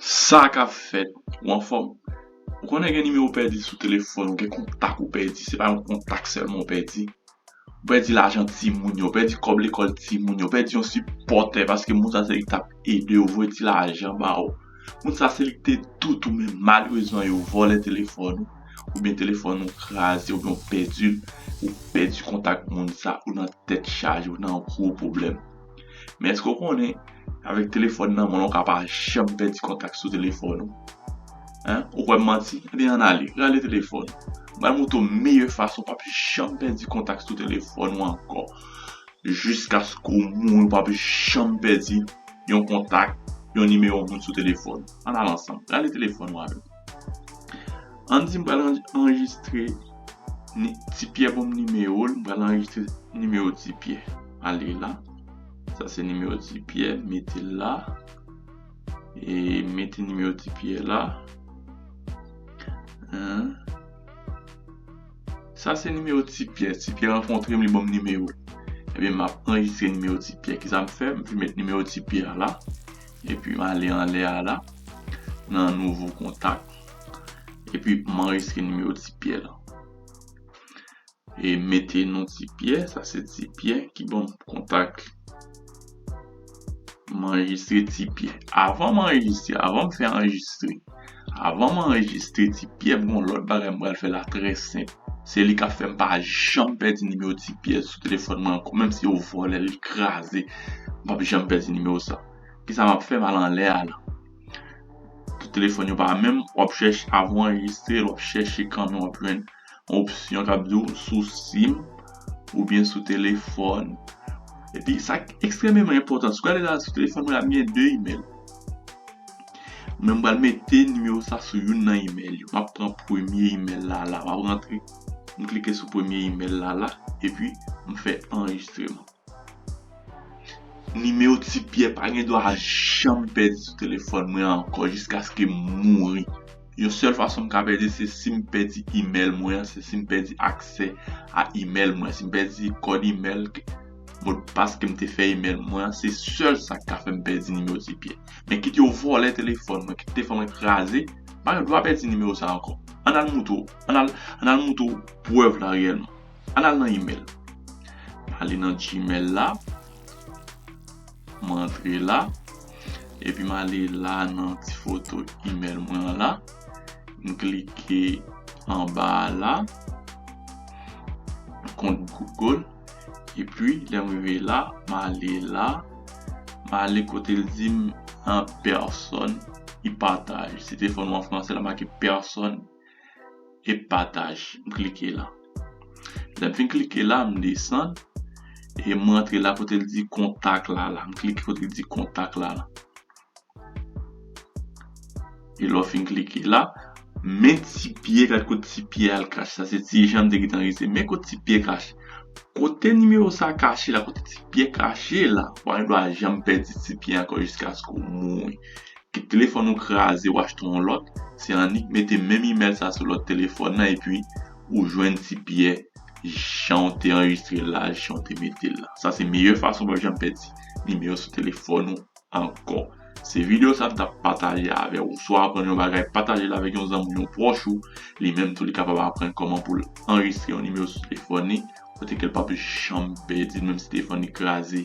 Sa kap fèt ou anfòm ou konnen gen nimewo pèdi sou telefòn ou gen kontak ou pèdi se pa yon kontak sèlman ou pèdi ou pèdi lajan timoun yo ou pèdi kòb lekòl timoun yo ou pèdi yon sipòtè paske moun sa se li tap edew voye ti lajan ba ou moun sa se li ki te tout ou men malerezman yo vòlè telefòn ou oubyen telefòn ou kraze oubyen ou pèdil ou pèdi kontak moun sa ou nan tèt chaje ou nan gwo pwoblèm. Men eske ou konnen avèk telefòn nan men w ou ka pa janm pèdi kontak sou telefòn ou? Ou kwè m manti? Ebyen ann ale, rale telefòn ou. M pral montre w meyè fason ou pap janm pèdi kontak sou telefòn ou ankò. Jiskaske ou mouri ou pap janm pèdi yon kontak, yon nimewo moun sou telefòn ou. Ann al ansanm, rale telefòn ou avè m. An di m pral anrejistre ni ti pyè banm nimewo l m pral anrejistre nimewo ti pyè ale la sa se nimewo ti pyè mete l la e mete nimewo ti pyè la sa se nimewo ti pyè ti pyè rankontre m li banm nimewo l ebyen m ap anrejistre nimewo ti pyè ki sa m fè m fè met nimewo ti pyè a la Epi m ale anlè a la, nan nouvo kontak. Epi m anrejistre nimewo Ti Pyè lan. E m mete non Ti Pyè, sa se Ti Pyè ki ban m kontak li. M anrejistre Ti Pyè. Avan m anrejistre, avan m fè anrejistre. Avan m anrejistre Tipyè m gon lòt bagay m pral fè la trè senp se li kap fèm pa janm pèdi nimewo Tipyè sou telefòn mwen ankò menm si yo vòlè l li kraze m pap janm pèdi nimewo sa kisa map fè m al anlè a la pou telefòn yo pa menm wap chèche avan w anrejistre wap chèche kanmenw wap jwenn. yon opsyon kap diw sou sim oubyen sou telefòn epi sak ekstrememan enpòtan sou gade la sou telefòn mwen la mwen gen 2 email men m pral mete nimewo sa sou youn nan email yo map pran premye email la la map rantre m klike sou premye email la la epi m fè anrejistreman. Nimewo ti pyè pa gen dwa janm pèdi sou telefòn mwen ankò jiskaske m mouri. Yon sèl fason m ka pèdi se si m pèdi imèl mwen an, se si m pèdi aksè a imèl mwen. Si m pèdi kòd imèl, modpas ke m te fè imèl mwen an, se sèl sa k ka fè m pèdi nimewo ti pyè. Men kit yo vòlè telefòn mwen, kit telefòn mwen kraze, m pa gen dwa pèdi nimewo sa ankò. Ann al moutre w, ann al moutre w prèv la reyèlman. Al al nan email. Male nan gmail la. Mwen antre la. Epi male la nan ti foto email mwen la. M klike anba la. Kont Google. Epi lè m rive la. Male la. Male kote l di m an person. I pataj. Se te fon mwen franse la make person. e pataj m klike la lèm fin klike la m desann e m rantre la kote l di kontak la la m klike kote l di kontak la la e lè w fin klike la men ti pye gad kot ti pye al kache sa se ti jan m te gentan resi men kot ti pye kache kote nimewo sa kache la kote ti pye kache la ou pa gen dwa janm pèdi ti pye ankò jiskaske w mouri Kit telefòn ou kraze ou achte yon lòt, se annik mete menm imèl sa sou lòt telefòn nan epi ou jwenn ti pyè jan ou te anrejistre l la, jan ou te mete l la. Sa se meyè fason ou pap janm pèdi nimewo sou telefòn ou ankò. Se videyo sa m tap pataje avè ou. Si w aprann yon bagay, pataje l avèk yon zanmi ou, yon pwòch ou, li menm tou li kapab aprann kòman pou l anrejistre yon nimewo sou telefòn li kote ke l pap janm pèdi l menm si telefòn li kraze.